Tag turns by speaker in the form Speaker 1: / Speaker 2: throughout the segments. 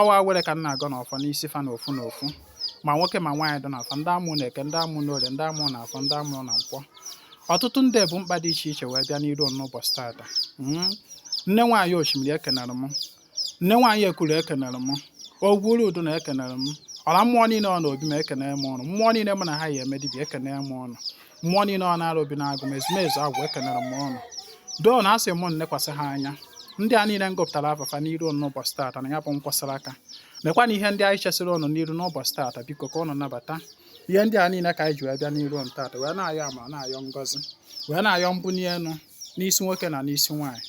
Speaker 1: ọwa were ka m na-agọnụ ọfọ n'isi fa na ofu na ofu ma nwoke ma nwaanyị dị n'afọ ndị a mụ na eke ndị a mụ na orie ndị a mụ na afọ ndị a mụ na nkwọ ọtụtụ ndị bu mkpa dị iche iche wee bịa n'iru n'ụbọchị taata hmm. nne nwaanyị osimiri ekenere m nne nwaanyị ekuru ekenere m ogwu uru udu na ekenere m ọra mmụọ niile nọ na obi m ekenere m ụnụ mmụọ niile m na ha yi eme dibịa ekenere m ụnụ mmụọ niile nọ na Arọbịnagụ m ezumezu agwụ ekenere m ụnụ doo na asị m nekwasị ha anya ndị a niile m gụpụtara afa fa n'iru ụnụ n'ụbọchị taata na ya bụ nkwasara aka mekwa na ihe ndị anyị chesịrị ụnụ n'iru n'ụbọchị taata biko ka ụnụ nabata ihe ndị a niile ka anyị ji wee bịa n'iru ụnụ taata wee na-ayọ amara na-ayọ ngọzi wee na-ayọ mbunye elu n'isi nwoke na n'isi nwaanyị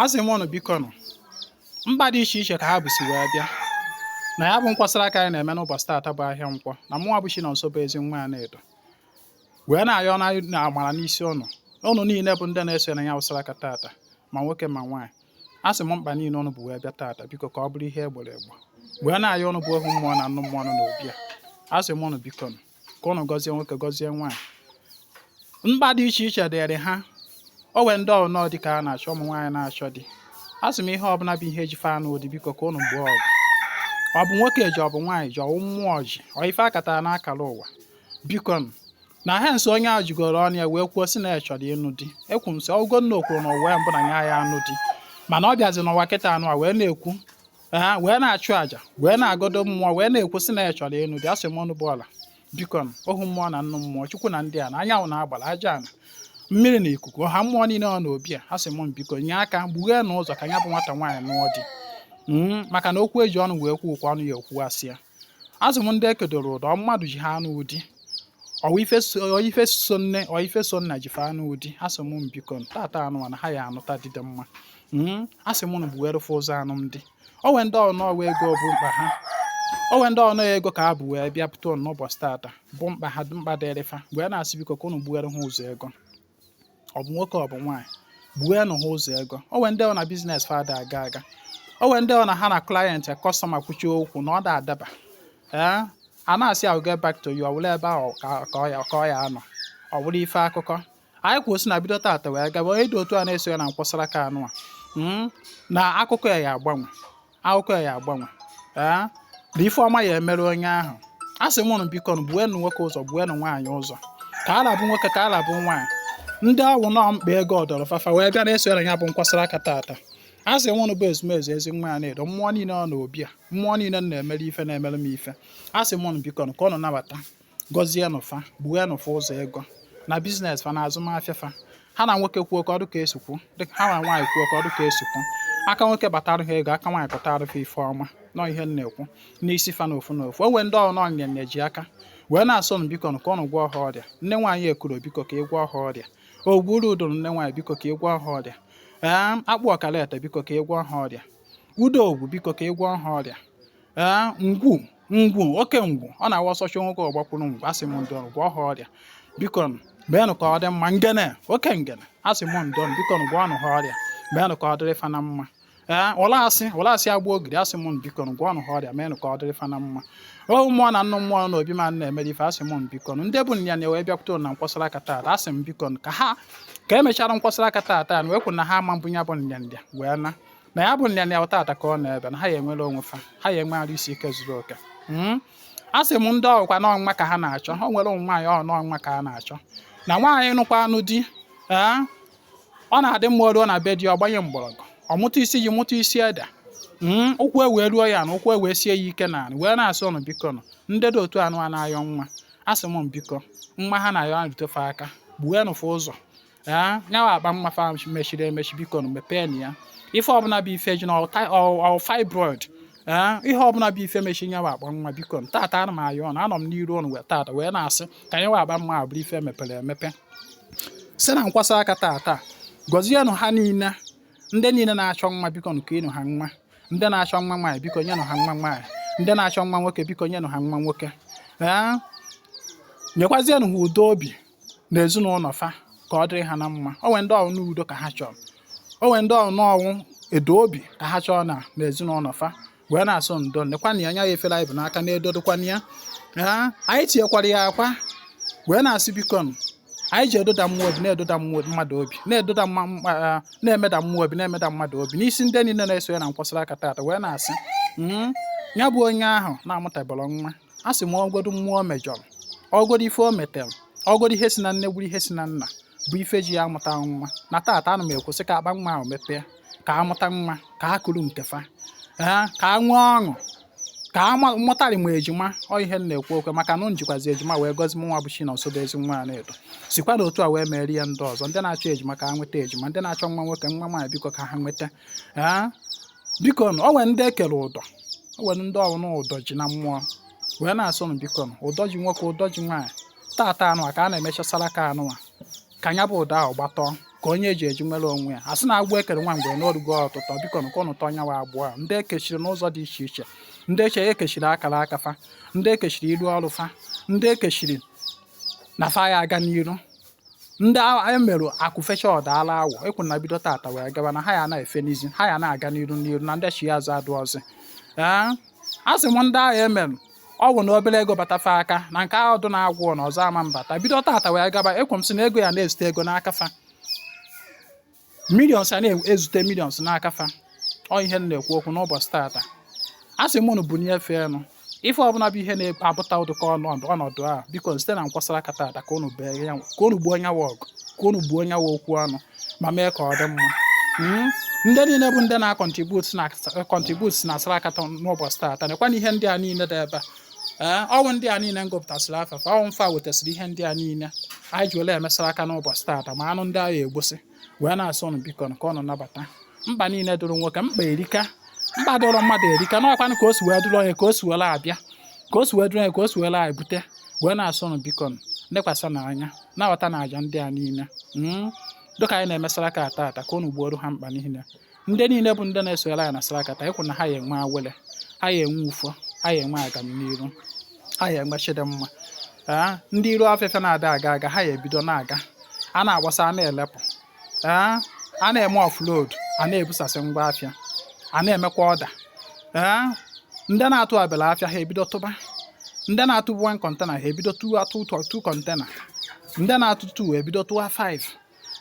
Speaker 1: asị m ụnụ biko nụ mkpa dị iche iche ka ha busi wee bịa na ya bụ nkwasara aka anyị na-eme n'ụbọchị taata bụ ahịa nkwọ na mụnwa bụ Chinonso bụ ezenwaanyị Anaedo wee na-ayọnụ amara n'isi ụnụ ụnụ niile bụ ndị na-eso na ya wụsara aka taata ma nwoke ma nwaanyị asị m mkpa niile ụnụ bu wee bịa taata biko ka ọ bụrụ ihe egboro egbo wee na-ayọ ụnụ bụ ohu mmụọ na nnụ mmụọ nọ n'obi a asị m ụnụ biko nụ ka ụnụ gọzie nwoke gọzie nwaanyị mkpa dị iche iche dịrị ha o nwee ndị ọ nọ di ka ha na-achọ ụmụ nwaanyị na-achọ di asị m ihe ọbụla bụ ihe ji fa anụ di biko ka ụnụ gboo ọgụ ọ bụ nwoke ji ọ bụ nwaanyị ji ọ wụ mmụọ ji ọ ife akatara n'akara ụwa biko na ha nso onye ahụ jigoro ọnụ ya wee kwuo sị na ya chọrọ ịnụ di ekwu m sị ọ wụgo na o kwuru na ụwa mbụ na ya ya anụ di mana ọ bịazi n'ụwa kịta nụ a wee na-ekwu wee na-achụ àjà wee na-agọdo mmụọ wee na-ekwu sị na ya chọrọ ịnụ di asị m ụnụ bụ ọra biko ohu mmụọ na nnụ mmụọ chukwu na ndị a na anyanwụ na agbara aja ana mmiri na ikuku ọha mmụọ niile nọ na obi a asị m biko nye aka gbugheenụ ụzọ ka ya bụ nwata nwaanyị nụọ di hmm, maka na okwu eji ọnụ wee kwuo ọ kwa ọnụ ya ekwuasị ya asị m ndị ekedoro ụdọ mmadụ ji ha anụ di ọ ife so nne ọ ife so nna ji fa anụ di asị m biko taata nụ na ha ya anụta di dị mma hmm, asị m unu gbuwere fa ụzọ anụm di o nwee ndị ọ nọ ọwa ego bụ mkpa ha o nwee ndị ọ nọ ego ka ha bu wee bịa pụta unu n'ụbọchị taata bụ mkpa ha mkpa dịrị fa wee na-asị biko ka unu gbuwere ha ụzọ ego ọ bụ nwoke ọ bụ nwaanyị gbuwenụ ha ụzọ ego o nwee ndị ọ na business fa ada aga aga o nwee ndị ọ na ha na client customer kwuchie okwu na ọ da adaba ee eh, a na-asị I'll get back to you ọ wụrụ ebe ahụ ka ọ ya anọ ọ wụrụ ife akụkọ anyị kwuo sị na bido taata wee gaba onye dị otu a na-eso ya na nkwasara aka nụ a hmm? na akụkọ ya ya agbanwe akụkọ ya ya agbanwe ee na ife ọma ya emere onye ahụ asị m ụnụ biko nụ gbuenụ nwoke ụzọ gbuenụ nwaanyị ụzọ ka ọ rabụ nwoke ka ọ rabụ nwaanyị ndị ọ wụ nọ mkpa ego dọrọ fa fa wee bịa na-eso ya na ya bụ nkwasara aka taata asị m ụnụ bụ ezumezu ezenwaanyị Anaedo mmụọ niile nọ na obi a mmụọ niile na-emere ife na-emere m ife asị m ụnụ biko nụ ka ụnụ nabata gọzienụ fa gbuenụ fa ụzọ ego na biznes fa na azụmahịa fa ha na nwoke kwuo ka ọ dụ ka esi kwuo ha na nwaanyị kwuo ka ọ dụ ka esi kwuo aka nwoke batara ha ego aka nwaanyị kọtara fa ife ọma nọ ihe m na-ekwu n'isi fa na ofu na ofu o nwee ndị ọ bụ n'ọ nrịanrịa ji aka wee na-asị ọnụ biko ka ọnụ gwọọ ha ọrịa nne nwaanyị ekuro biko ka ị gwọọ ha ọrịa ogburu udoro nne nwaanyị biko ka ị gwọọ ha ọrịa ee akpụ ọkara ete biko ka ị gwọọ ha ọrịa udo ogwu biko ka ị gwọọ ha ọrịa ee ngwu ngwu oke ngwu ọ na-abụ ọsọ chụọ nwoke ọ gbakwuru ngwu asị m ndị ọrụ gwọọ ha ọrịa biko meenụ ka ọ dị mma ngene oke ngene asị m ndị ọrụ biko gwọọnụ ha ọrịa meenụ ka ọ dịrị fa na mma ee ụlasị ụlasị agba ogiri asị m biko gwọọnụ ha ọrịa meenụ ka ọ dịrị fa na mma ohu mmụọ na nnụ mmụọ na obi ma na-emere ife asị m biko ndị bu nrịanrịa wee bịakwute na nkwasara aka taata asị m biko ka ha ka emechara nkwasara aka taata ana m ekwu na ha ama ebu ya bụ nrịanrịa wee na na ya bụ nrịanrịa taata ka ọ na-ebe na ha ya enwere onwe fa ha ya enwe arụ isi ike zuru oke hmm? a sị m ndị ọ bụkwa na ọ nwa ka ha na-achọ ha nwere ụmụ nwaanyị ọ n'ọ nwa ka ha na-achọ na nwaanyị nụkwanụ di eh? ọ na-adị mma o ruo na be di ọ gbanye mgbọrọgwụ ọ mụta isi ji mụta isi ede hmm? ụkwụ ewee ruo ya ana ụkwụ ewee sie ya ike na wee na-asị ọnụ biko nụ ndị dị otu anwa na-ayọ nwa a sị m biko nwa ha na-ayọ rute fa aka gbuenụ fa ụzọ ya nya bụ akpa nwa fa mechiri emechi biko nụ mepeenụ ya ife ọbụla bụ ife ji na ọ fibroid ee ihe ọbụla bụ ife mechi nya bụ akpa nwa biko na taata ana m ayọ ọnụ anọ m n'iru ọnụ wee taata wee na-asị ka nya bụ akpa nwa bụrụ ife mepere emepe si na nkwasa aka taata gọzienụ ha niile ndị niile na-achọ nwa biko nyenụ ha nwa ndị na-achọ nwa nwaanyị biko nyenụ ha nwa nwaanyị ndị na-achọ nwa nwoke biko nyenụ ha nwa nwoke ee nyekwazienụ ha udo obi na ezinụlọ fa ka ọ dịrị ha na mma o nwee ndị ọ bụ n'udo ka ha chọrọ o nwee ndị ọ bụ n'ọnwụ edo obi ka ha chọrọ na na ezinụlọ fa wee na-asị ndo lekwa na ya anya ya efere anyị bu n'aka na-edodokwana ya anyị tinyekwara ya akwa wee na-asị biko anyị ji edoda mmụọ obi na-edoda mmụọ mmadụ obi na-edoda na-emeda mmụọ obi na-emeda mmadụ obi n'isi ndị niile na-eso ya na nkwasara aka taata wee na-asị hmm, ya bụ onye ahụ na-amụtabara nwa a sị m ọ godu mmụọ o mejọrọ ọ godu ife o metere ọ godu ihe si na nne bụrụ ihe si na nna bụ ife ji ya amụta nwa na taata ana m ekwusi ka akpa nwa ahụ mepee ka ha mụta nwa ka ha kuru nke fa ka ha nwee ọṅụ ka a mụtara m ejima ọ ihe m na-ekwu ọkwa maka na e jikwazi ejima wee gọzie m nwa bụ chinọnso ezi nwa a na-edo sikwanụ otu a wee mere ya ndị ọzọ ndị na-achọ ejima ka ha nweta ejima ndị na-achọ nwa nwoke nwa nwaanyị biko ka ha nweta biko nụ o nwere ndị ekere ụdọ o nwere ndị ọ bụ na ụdọ ji na mmụọ wee na-asị ụnụ biko nụ ụdọ ji nwoke ụdọ ji nwaanyị tata anụwa ka a na-eme saraka anụwa ka nya bụ ụdọ ahụ gbatọọ ka onye eji eji nwere onwe ya asị na agbụ ekere nwa mgbe na o rugo ọtụtọ biko nụ ka ụnụ tọọ onye ahụ agbụ a ndị ekechiri n'ụzọ dị iche iche ndị ekechiri akara aka fa ndị ekechiri iru ọrụ fa ndị ekechiri na fa ya aga n'iru ndị emerụ akụ fechaa ọ daala awọ ekwu na bido tata wee gaba na ha ya na-efe n'izi ha ya na-aga n'iru n'iru na ndachi azụ adụrọzị ee a sị m ndị ahụ emerụ ọgwụ na obere ego bata fa aka na nke ahụ dụ na-agwụ na ọzọ ama abata bido tata wee gaba ekwu m sị na ego ya na-ezute ego n'aka fa millions a na-ezute millions n'aka fa ọ ihe m na-ekwu okwu n'ụbọchị tata a sị m unu bunie fa enu ife ọbụla bụ ihe na-ebute ụdịka ọnọdụ ọnọdụ a biko site na nkwa saraka tata ka unu gboo onye ahụ ọgụ ka unu gboo onye ahụ okwu ọnụ ma mee ka ọ dị mma hmm? ndị niile bụ ndị na-acontribute na contribute na saraka ta n'ụbọchị tata nekwa na ihe ndị a niile dị ebe a ee eh, ọ wụ ndị a niile m gụpụtasịrị afa fa ọ wụ fa wetasịrị ihe ndị a niile anyị ji were eme saraka n'ụbọchị taata ma anụ ndị agha egbosi wee na-asị unu biko ka unu nabata mkpa niile dụrụ nwoke mkpa erika mkpa dụrụ mmadụ erika n'ọkwanụ ka o si wee dụrụ onye ka o si were abịa ka o si wee dụrụ onye ka o si were ebute wee na-asị unu biko lekwasịnụ anya na-aghọta na aja ndị a niile hmm? dịka anyị na-eme saraka taata ka unu gbooro ha mkpa niile ndị niile bụ ndị na-esonyere anyị na saraka ta ekwu na ha ya enwe awele ha ya enwe ufọ ha ya enwe agamniru ha ya enwe chi dị mma ee ndị iru afịa fa na-ada aga aga ha ya ebido na-aga a na-agbasa a na-elepụ ee a na-eme offload a na-ebusasị ngwa afịa a na-emekwa order ee ndị na-atụ abịala afịa ha ebido tụba ndị na-atụ 1 container ha ebido tụwa 2 container ndị na-atụ 2 ebido tụwa 5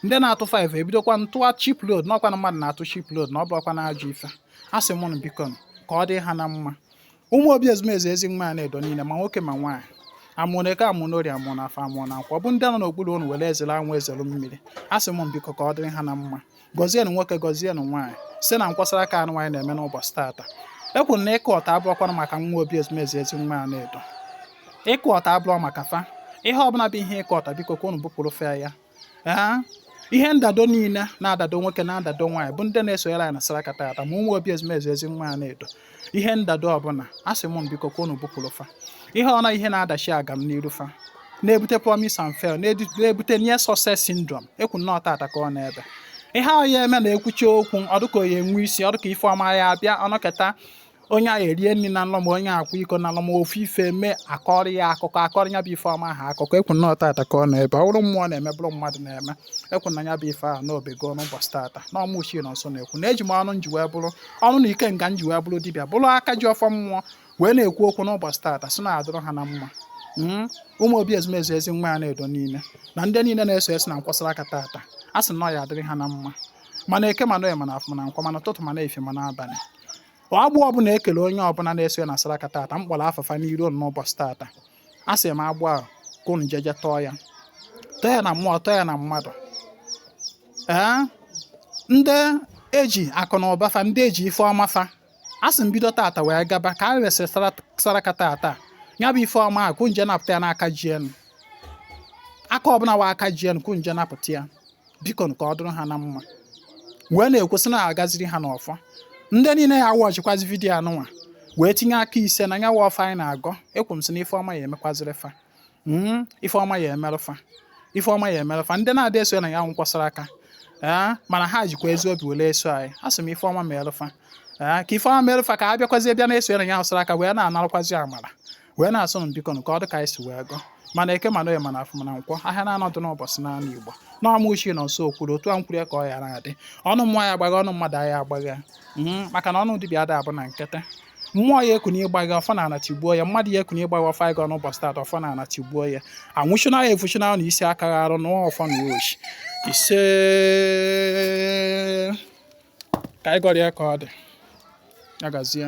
Speaker 1: ndị na-atụ 5 ebidokwa tụwa ship load na ọ kwa na mmadụ na-atụ ship load na ọ bụkwa na ajọ ife a sị m unu biko ka ọ dị ha na mma ụmụ obi ezumezu Ezenwaanyị na Edo niile ma nwoke ma nwaanyị amụ na eke amụ na orie amụ na afọ amụ na nkwọ ọ bụ ndị nọ n'okpuru unu were ezere anwụ ezere mmiri a sị m biko ka ọ dịrị ha na mma gọzienụ nwoke gọzienụ nwaanyị si na nkwa saraka anụwa anyị na-eme n'ụbọchị taata ekwuru na ịkụ ọta abụrọkwanụ maka nwa obi ezumezu Ezenwaanyị na Edo ịkụ ọta abụrọ maka fa ihe ọbụla bụ ihe ịkụ ọta biko ka unu bupụrụ fa ya ee ihe ndado niile na-adado nwoke na-adado nwaanyị bụ ndị na-esonyere anyị na saraka tata ma ụmụ obi ezumezu Ezenwaanyị na Edo ihe ndado ọbụla a sị m biko ka unu bupụrụ fa ihe ọna ihe na-adachi agamniru fa na-ebute promise and fail na-ebute near success syndrome ekwu m na ọ tata ka ọ na-ebe ihe ahụ ya eme na-ekwuchi okwu ọ dụ ka ọ ya enwe isi ọ dụ ka ife ọma ya abịa ọ nọketa onye a erie nri na nlọ ma onye akwa iko na nlọ ma ofu ife mee akọrọ ya akụkọ akọrọ ya bụ ife ọma ha akụkọ ekwu na ọ tata ka ọ na-ebe ọ bụrụ mmụọ na-eme bụrụ mmadụ na-eme ekwu na ya bụ ife ahụ na ọ bego n'ụbọchị tata na ọ mụ Chinonso na-ekwu na eji m ọnụ m ji wee bụrụ ọnụ na ikenga m ji wee bụrụ dibịa bụrụ aka ji ọfọ mmụọ wee na-ekwu okwu n'ụbọchị tata sị na-adụrụ ha na mma hmm? ụmụ obi ezumezu ezi nwa ya na-edo niile na ndị niile na-eso esi na nkwọ saraka tata a sị na ọ ya adịrị ha na mma ma na eke ma na oye ma na afọ ma na nkwọ ma na ụtụtụ ma na efifie ma na abalị agbụ ọbụla e kele onye ọbụla na-eso na saraka tata m kpọrọ afa fa n'iru n'ụbọchị tata a sị m agbụ ahụ ka unu jeje tọọ ya tọọ ya na mmụọ tọọ ya na mmadụ ee ndị e ji akụ na ụba fa ndị e ji ife ọma fa a sị m bido tata wee gaba ka e risiri saraka tata ya bụ ife ọma ahụ ka unu je napụta ya n'aka ji ya nụ aka ọbụla wụ aka ji ya nụ ka unu je napụta ya biko ka ọ dụrụ ha na mma wee na-ekwu sị na agaziri ha n'ọfọ ndị niile ya watchịkwazi video anụnwa wee tinye aka ise na ya wụ ọfọ anyị na-agọ ekwu m sị na ife ọma ya emekwaziri fa hmm, ife ọma ya emerụ fa ife ọma ya emerụ fa ndị na-adị eso ya na ya nkwọ saraka ee eh, mana ha jikwa ezi obi were eso anyị a sị m ife ọma merụ fa ee eh, ka ife ọma merụ fa ka ha bịakwazi bịa na-eso ya na ya wụ saraka wee na-anarakwazi amara wee na-asị m biko ka ọ dị ka anyị si wee gọọ ma na eke ma na oye ma na afọ ma na nkwọ ahịa naanọ dụ n'ụbọchị n'ala Igbo na ọ mụ Chinonso kwuru otu a m kwuru ka ọ ya adị ọnụ mmụọ aya agbagha ya ọnụ mmadụ aya agbagha ya hmm, maka na ọnụ dibịa ada abụ na nkịtị mmụọ ya ekuni ịgbagha ọfọ na ana tigbuo ya mmadụ ya ekuni ịgbagha ọfọ anyị gọ n'ụbọchị taata ọfọ na ana tigbuo ya anwụchuna ya efuchuna na isi aka arụ na ọfọ na ochi ise ka anyị gọrọ ya ka ọ dị ya gazie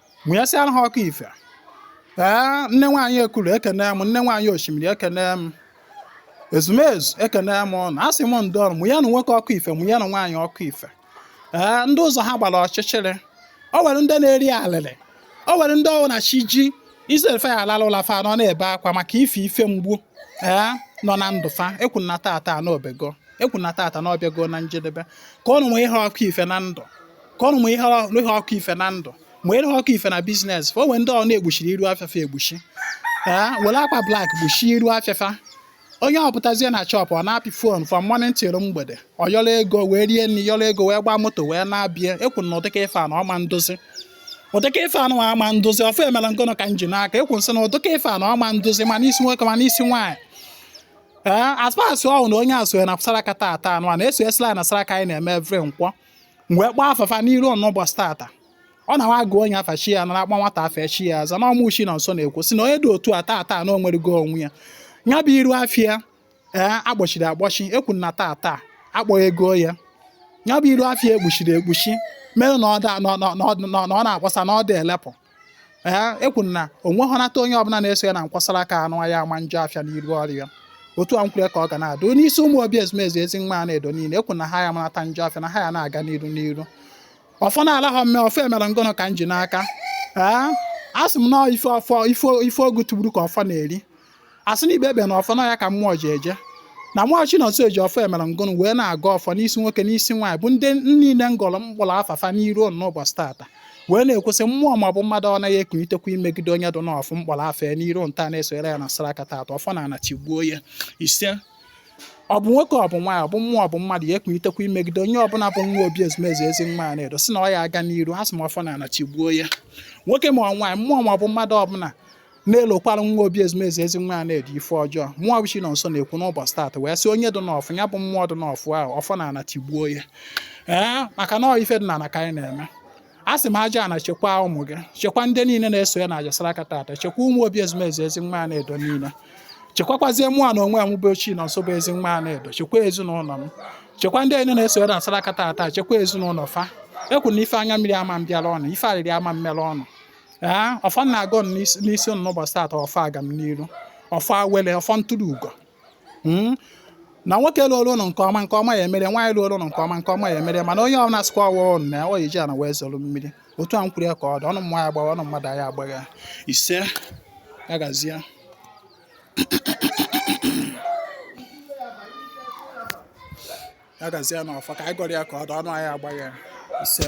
Speaker 1: mụnyesịara ha ọkụ ife ee nne nwaanyị Ekulu ekene m nne nwaanyị osimiri ekene m ezumezu ekene m unu asị m ndị ọrụ mụnye na nwoke ọkụ ife mụnye na nwaanyị ọkụ ife ee ndị ụzọ ha gbara ọchịchịrị o nwere ndị na-eri alịlị o nwere ndị ọ wụ na chi jie instead of fa ya alala ụla fa nọ na-ebe akwa maka ife ife mgbu ee nọ na ndụ fa ekwu na tata na ọ bego ekwu na tata na ọ bịago na njedebe ka unu mụnye ha ọkụ ife na ndụ ka unu mụnyere ha ọkụ ife na ndụ mụnyere ha ọkụ ife na business fa o nwe ndị ọ na e gbuchiri iru afịa fa egbuchi ee were akwa black gbuchie iru afịa fa onye ọ pụtazie na shop ọ na-apị phone from morning till mgbede ọ yọrọ ego wee rie nri yọrọ ego wee gbaa moto wee na-abịa ekwu na ụdịka ife anụ ọ ma ndụzi ụdịka ife anụ ama ndụzi ọfọ emela ngono ka m ji n'aka ekwu m sị na ụdịka ife anụ ọ ma ndụzi ma n'isi nwoke ma n'isi nwaanyị ee as far as ọ wụrụ na onye a soye na saraka tata anụ a na-eso esila na saraka anyị na-eme every nkwọ wee kpọọ afa fa n'iru unu ụbọchị tata ọ na wa gụọ onye afa chi ya nara a kpọọ nwata afa chi ya aza na ọ mụ Chinonso na-ekwu sị na onye dị otu a taa taa na o nwerego onwe ya ya bụ iru afịa ee eh, agbochiri agbochi ekwu na taa taa akpọghego ya ya bụ iru afịa ekpuchiri ekpuchi mere na ọ na-akpọsa na ọ da elepụ ee ekwu na o nweghọ nata onye ọbụla na-eso ya na nkwa saraka a na ọ ya ama njọ afịa n'iru ọrịa otu a m kwuru ka ọ ga na-adị n'isi ụmụ obi ezumezu ezi nwa Anaedo niile ekwu na ha ya marata njọ afịa na ha ya na-aga n'iru n'iru ọfọ na-ala ha mme ọfọ e mere ngụnụ ka m ji n'aka ee a sị m na ife ogu tụgburu ka ọfọ na-eri asị na ikpe ebe na ọfọ na ya ka mmụọ ji eje na mụwa Chinonso ji ọfọ e mere ngụnụ wee na-agọ ọfọ n'isi nwoke n'isi nwaanyị bụ ndị niile m gọrọ m kpọrọ afa fa n'iru unu n'ụbọchị tata wee na-ekwu sị mmụọ maọbụ mmadụ ọ naghị ekunitekwa imegide onye dụ n'ọfụ m kpọrọ afa ya n'iru unu taa na-esonyere ya na saraka tata ọfọ na ana tigbuo ya ise ọ bụ nwoke ọ bụ nwaanyị ọ bụ mmụọ ọ bụ mmadụ ya ekunitekwa imegide onye ọbụla bụ nwa obi ezumezu ezi nwa Anaedo sị na ọ ya aga n'iru asị m ọfọ na ana tigbuo ya nwoke ma ọ nwaanyị mmụọ maọbụ mmadụ ọbụla na-elokwara nwa obi ezumezu ezi nwa Anaedo ife ọjọọ mụwa bụ Chinonso na-ekwu n'ụbọchị taata wee sị onye dị n'ọfụ ya bụ mmụọ dị n'ọfụ ahụ ọfọ na ana tigbuo ya ee maka na ife dị na ana ka anyị na-eme a sị m aja ana chekwa ụmụ gị chekwa ndị niile na-eso ya na aja saraka taata chekwa ụmụ obi ezumezu ezi nwa Anaedo niile chekwakwazie mụ na onwe m bụ Chinonso bụ ezi nwa Anaedo chekwa ezinụlọ m chekwa ndị niile na-eso ya na saraka taata chekwa ezinụlọ fa ekwu na ife anya mmiri ama mbịara unu ife arịrị ama mmere unu ee ọfọ m na-agọ n'isi ụnụ n'ụbọchị taata ọfọ agamniru ọfọ awele ọfọ ntụrụ ugo Mm. na nwoke looro ụnụ nke ọma nke ọma ya emere nwaanyị looro ụnụ nke ọma nke ọma ya emere mana onye ọbụla sịkwa ọwa ọnụ na ọ eji ana wee zọrọ mmiri otu a m kwuru ya ka ọ dị ọnụ mmụọ ya agbagha ọnụ mmadụ ya agbagha ise ya gazie ya gazie na ọfọ ka anyị gọrọ ya ka ọ dị ọnụ anyị agbagha ise